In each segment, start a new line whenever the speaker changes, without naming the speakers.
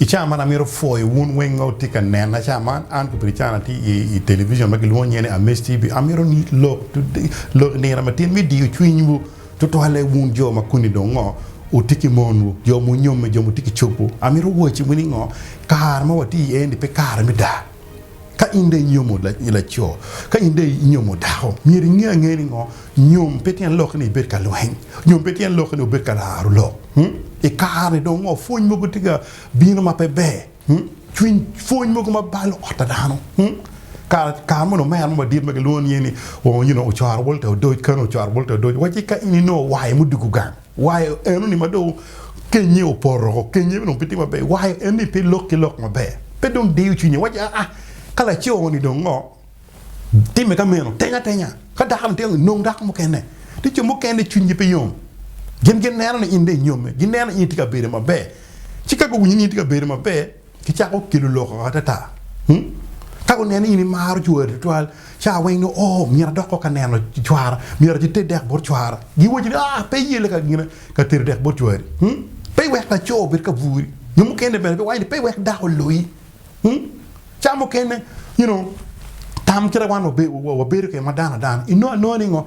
I cawa man amito pwoyo wun weng ma wutye ka nena. Cawa man an ki Brican atye i i television ma gilwongo nyinge ni Amis TV. Amito ni lok lok i nino matin me diyo cwinywu, tutwalle wun jo ma kuni dong ngo, wutye ki monwu, jo munyomme, jo mutye ki cobwu. Amito wacciwu ni ngo, kare ma watye iye-ni pe kare me daa. Ka in dong inyomo laco, ka in dong inyomo dako, myero inge angea ni ngo? Nyom pe tyen lokke ni ibed ka lweny. Nyom pe tyen lokke ni wubed ka laro lok. I kare-ni dong ngo? Pwony mogo tye ka bino ma pe ber. Cwiny pwony mogo ma balo ot pa dano. Kare moni omera mo madit ma gilwongo nyinge ni, you know, Ocoro Walter Odoc, Colonel Ocoro Walter Odoc, wacci ka in inongo wayo mudwogo gang, Wayo enoni ma dong kenyye opoto woko, kenyye dong pe tye maber, wayo enoni pe lok ki lok maber, pe dong diyo cwinye, wacci aa, ka laco-ni dong ngo, timme ka meno, teny atenya, ka dakoni tye nong dako mukene. Tye jo mukene cwinygi pe yom, gin gineno ni in dong inyomme, gineno ni in itye ka bedo maber, ci ka guwinyo ni in itye ka bedo maber, Gicako kelo lok atata. Ka guneno ni in imaro cwari tutwal, ca weng nongo oo, myero adok kok ka neno cwara, myero ati ter dek bot cwara. Giwacci ni, Aa, pe iye leka gina ka tero dek bot cwari. Pe iwek laco obed ka bwuri. Jo mukene bene biwaco ni, Pe iwek dako oloyi. Ca mukene, you know, tam kite wan wabedo kwede ma dano adana, inongo anonga ni ngo?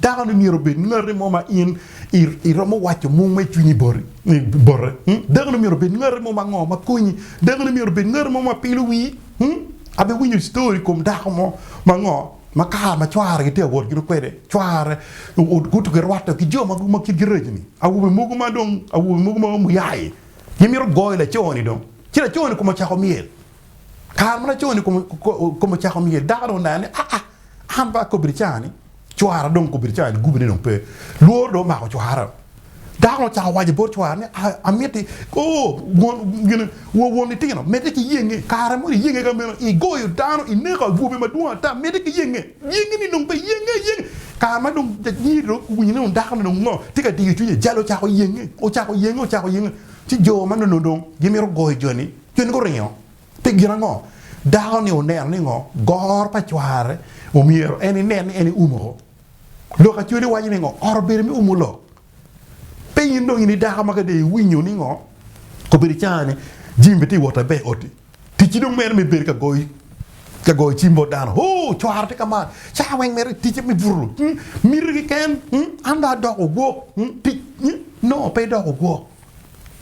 Dako-ni myero obed ngati mo ma in iromo waco mung ma i cwinyi bote. Dako-ni myero obed ngati mo ma ngo ma konyi. Dako-ni myero obed ngati mo ma pilo wii. Abiwinyo citory i kom dako mo ma ngo ma kare ma cware gitye ka wot gino kwede, cware guto girwatte ki jo ma kitgi rac-ni. Awobe mogo ma dong awobe mogo ma muyai gimito goyo laco-ni dong ci laco-ni kome ocako myel. Kare ma laco-ni kome ocako myel dako-ni oneno ni aa an pe akobbe ni caa-ni. Cwara dong okobe ni cawa ni gubine dong pe. Lworo dong omako cwara. Dako ni ocako waco bot cwara ni amiti ooh won won litino medde ki yenge kare mo iyenge ka meno igoyo dano ineko awobe madwong ata medde ki yenge yenge ni dong pe yenge yenge kare ma dong nyiri dong guwinyo ni dako ni dong ngo tye ka diyo cwinye jalo ocako yenge ocako yenge ocako yenge ci jo ma nono dong gimito goyo joni joni guringo. Pi gin ango? Dako-ni oneno ni ngo? Goro pa cware omyero en inen ni en iumo ko. Lok Acholi waco ni ngo? Oro bedo me umo lok. Pe in dong in idako ma ka dong iwinyo ni ngo? Obedo canga ni Jim bene tye wot abe i oti. Ticci dong meno me bedo ka goyo ka goyo cim bot dano. Hoo! Cwara tye ka mar. Cawa weng mere ticce me buto. Miti kiken. An dong adoko ogwok. Tic. No, pe idoko ogwok.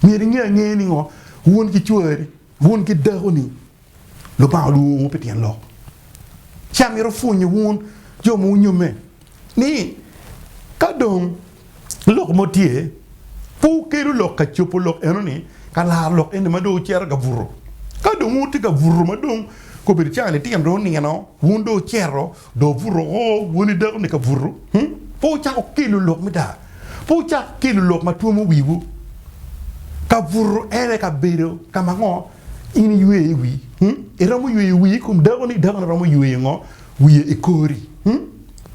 Myero inge angeya ni ngo? Wun ki cwari Wun ki dako ni Lubanga olwongo pi tyen lok ci amito pwonyo wun jo ma wunyomme ni ka dong lok mo tye pe wukelu lok ka copo lok eno ni ka laro lok eni ma dong wucito ka buto. Ka dong wun wutye ka buto ma dong kobedo cang litino dong onino wun dong wucito Dong obuto woko, woni dako-ni ka buto, pe wucako kelo lok me daa, pe wucak kelo lok ma twomo wiwu. Ka buto en aye ka bedo ka ma ngo in iyweyo i wi? Iromo yweyo wii i kom dako-ni, dako-ni romo yweyo ngo wiye i kori?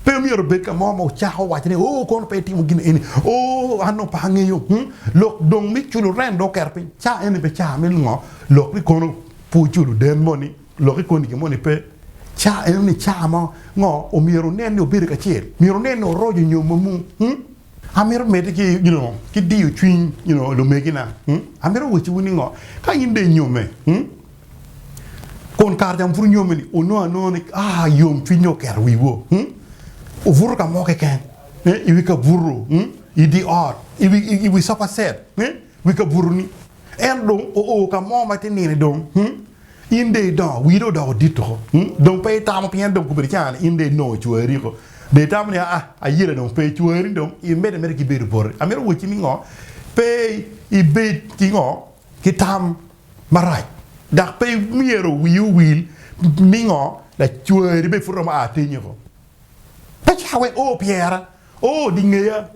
Pe omyero obed ka mo ma wucako waco ni, Oo, kono pe itimo gin eni, oo, an dong pe angeyo. Lok dong me culo rent dong oketo piny, ca eni pe ca me ngo lok ni kono pe wuculo den moni. Lok ikoni gin moni pe ca eno ni ca mo ngo omyero wunen ni wubedo kacel. Myero wunen ni wuroco nyom ma mung. Hum! Amito medde ki, you know, ki diyo cwiny, you know, lumegina. Hum! Amito wacciwu ni ngo, ka in dong inyomme, hum, kun kare ca ma pud inyomme ni, wunongo anonga ni, ah, yom cwiny dong oketo wiwu, hum, wubuto ka mo keken, eh, iwi kabuto, hum, idi ot, iwi, iwi sofa set, eh, wi kabuto ni, ento dong oo ka mo ma ite nino dong, hum. In dong idongo, wii dong odoko dit tuko, dong pe itamo pien dong gubedo caa ni in dong inongo cwari ryeko. Dong itamo ni, Aa, ayela dong pe, cwari dong imedde ameda ki bedo boti. Amito wacci ni ngo? Pe ibed ki ngo? Ki tam marac. Dok pe myero wii owil ni ngo? Lacwari bene pud romo aa tinye woko. Pe cito wek o pyera, o di ngeya,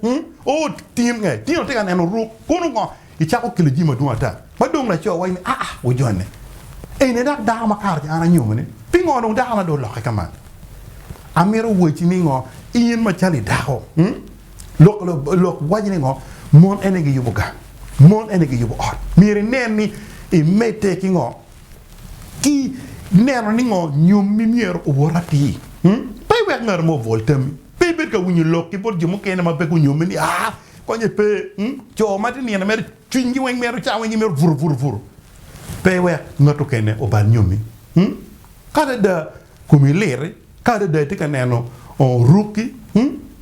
o tin nge. Tino tye ka neno oruk, kono ngo? Icako kelo jami madwong ata ma dong laco waci ni, aa, wujone. Eni dok dako ma kare ca an anyomone. Pingo dong dakona dong olokke ka man? Amito wacci ni ngo, in macalo i dako, lok waci ni ngo, mon ene giyubo gang, mon ene giyubo ot. Myero inen ni imedde ki ngo? ki neno ni ngo nyom mi myero owot atir. Pe iwek ngat mo obwol tami. Pe ibed ka winyo lok ki bot jo mukene ma pe gunyomi ni, aa, konye pe. Co ma tye nino mere cwinygi weng mito ca, wenggi mito buru buru buru. Pe iwek ngat okene obal nyomi. Ka adada komi liti, ka adada itye ka neno rukki,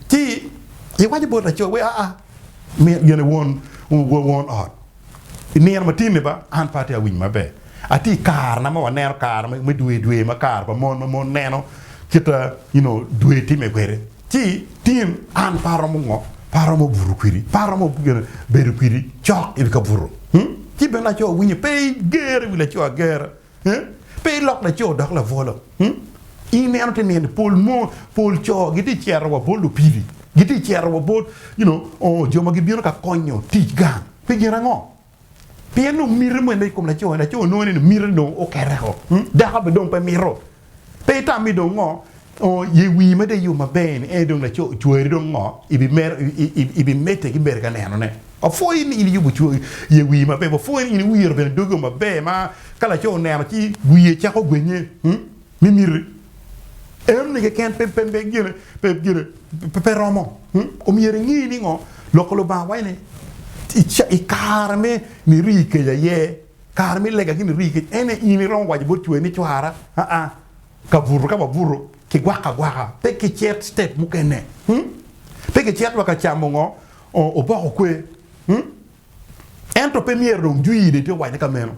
ci iwaco bot laco weko, aa, myero gin won ot. I nino ma tye-ni ba, an pe atye ka winyo maber. Atye i karena ma waneno kare me dwe dwe ma kare pa mon ma mon neno kit ma you know dwe timme kwede. Ci tin an pe aromo ngo? Pe aromo buto kwedi, pe aromo bedo kwedi cok i wi kabuto. Ci bene laco winyo pe gere i wi laco agera. Pe ilok laco odok labwolo. Ineno te nene pol mo pol co giti cito wa bot lupili, giti cito wa bot you know jo ma gibino ka konyo tic gang. Pi gin ango? Pien dong miti mene i kom laco ni, laco nongo ineno miti dong okete o, dako be dong pe mito. Pe itami dong ngo ongo ye wii mada iyo maber ni en dong laco ocwari dong ngo ibi mero i bi mete ki bere ka neno ne. Wapwoyi ni in iyubo cwari ye wii maber wapwoyi ni in iwiro bene dogi o maber ma ka laco oneno ci wiye cako gwenye me miti en ni keken pe pe pe gine pe gine pe romo omyero ingi ni ngo loko lubanga waci ni ikare me ni rii keja aye Kare me lega gini rii kec en aye in iromo waco bot cwari ni cwara aa ka buto ka wabuto ki gwaka agwaka pe ki cet step mukene mm pe ki cet wa ka camo ngo oboko kwe mm ento pe myero dong jwii dong itye ka wacone ka meno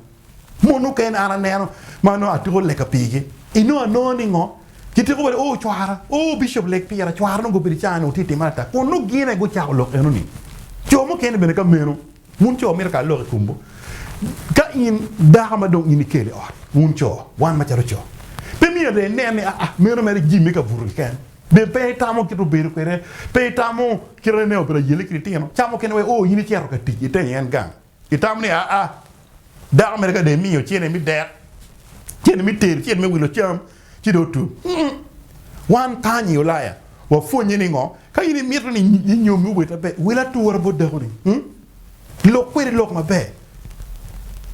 mon mukene an aneno ma nongo atuko lega pigi inongo anongo ni ngo ki tiko bale oo cwara oo bicop leg pira cwara nongo gubedo icaa nongo tye ka timone ata kun nongo gine gucako lok enoni co mukene bene ka meno. Wun co mito kara lok i komwu ka in dako ma dong in ikelo i ot. Wun co, wan macalo co, pe myero inen ni aa, meno mere jimmi ka buto keken. Bed pe itamo kit obedo kwede, pe itamo kit anene obedo ayele ki litino ca mukene wek o in icito ka tic itenyo en gang. Itamo ni aa, dako mere ka dong imiyo cente me dek, cente me tedo, cente me wilo cam, ci dong otum. Wan kany i Ulaya wapwonnye ni ngo? Ka in imito ni inyomi obed maber, wil atura bot dakoni. Lok kwede lok maber.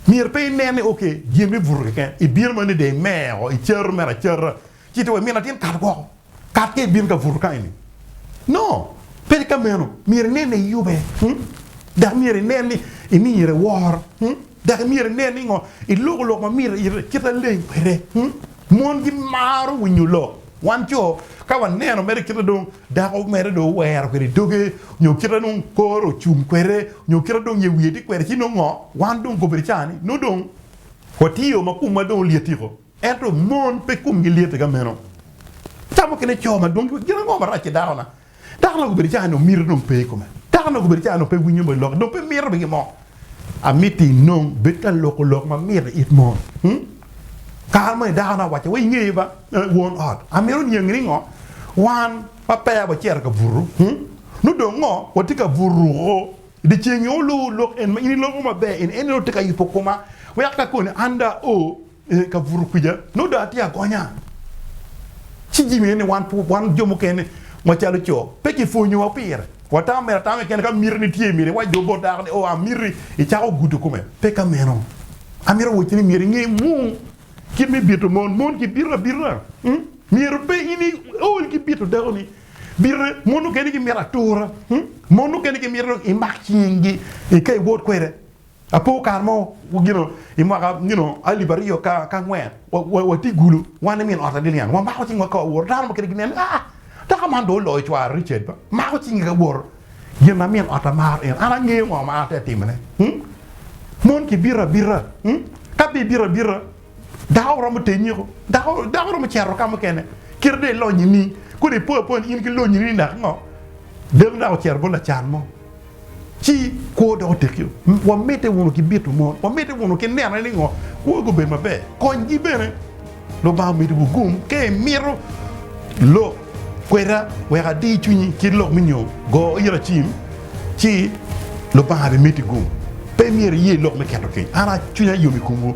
Myero pe inen ni ok gin me buto keken, ibino ma nede imeo, icato mere acata, ci ito wa min latin kat woko, kat ka ibino ka buto kany-ni. No, pe ka meno. Myero inen ni iyube, dok myero inen ni imire woro. Dok imyero inen ni ngo iloko lok ma myero iyite kit aleng kwede. Mon gimaro winyo lok. Wan co, ka waneno mere kite dong dako mere dong owero kwede doge, nyo kite dong kore ocung kwede, nyo kite dong ye wiye tye kwede, ci nongo ngo? Wan dong kobedi cawa ni nongo dong watiyo ma komwa dong olyettiko. Ento mon pe komgi lyette ka meno. Ca mukene co madwong giwaco ni, Gin ango marac ki dakona? Dako dong obedo calo mito dong pe i kome. Dako dong obedo calo pe winyo bene lok, dong pe mito bene gin mo. Amito inong bed ka loko lok ma mit i it mon. Kare moni dako na wacce wa i ngeye ba, won ot, amito niangi ni ngo wan ma peya wa cito ka buto, nongo dong ngo wa tye ka buto ruko i di ceng nyo olu lok en ma in iloko maber, en ene dong tye ka yubo koma wek ka koni anda o. Ee, ka buto kwija nongo dong atye agonya. Ci jami eni wan wan jo mukene macalo co pe kipwonyowa pire. Watamo mere atama keken ka miti ni tye myero iwac dong bot dako ni, 'Oo, amiti, icako gudo kome. Pe ka meno. Amito wacci ni myero inge mung kit me bito mon. Mon gibito abita. Myero pe in iol ki bito dakoni. Bite, mon mukene gimito atura. Mon mukene gimito dong imak cinggi ika iwot kwede. Apo kare mo i mwaka alip aryo ki angwen watye i gulu wan ki min ota Lilian wamako cing waka wawoto dano mukene ginen ni aa dako man dong oloyo cware Richard ba mako cinge ka woto gin ma min ota maro en an angeyo ngo ma an atye ka timone mon kibito abita ka pe ibito abita Dako romo te nyeko, dako romo cito ka mukene. Kite dong ilonyi ni, kodi ipo apoya ni in ki lonyi ni dok ngo, dako dok ocito bot lacan mo. Ci kwo dok otekio. Wamedde wunu ki bito mon, wamedde wunu ki neno ni ngo, kwogi gubed maber. Konygi bene. Lubanga omidiwu gum ka imito lok kweda wek adir cwinyi kit lok me nyo, go ira cim, ci Lubanga bimiti gum. Pe myero iye lok me keto keny. An cwinya yom i komwu.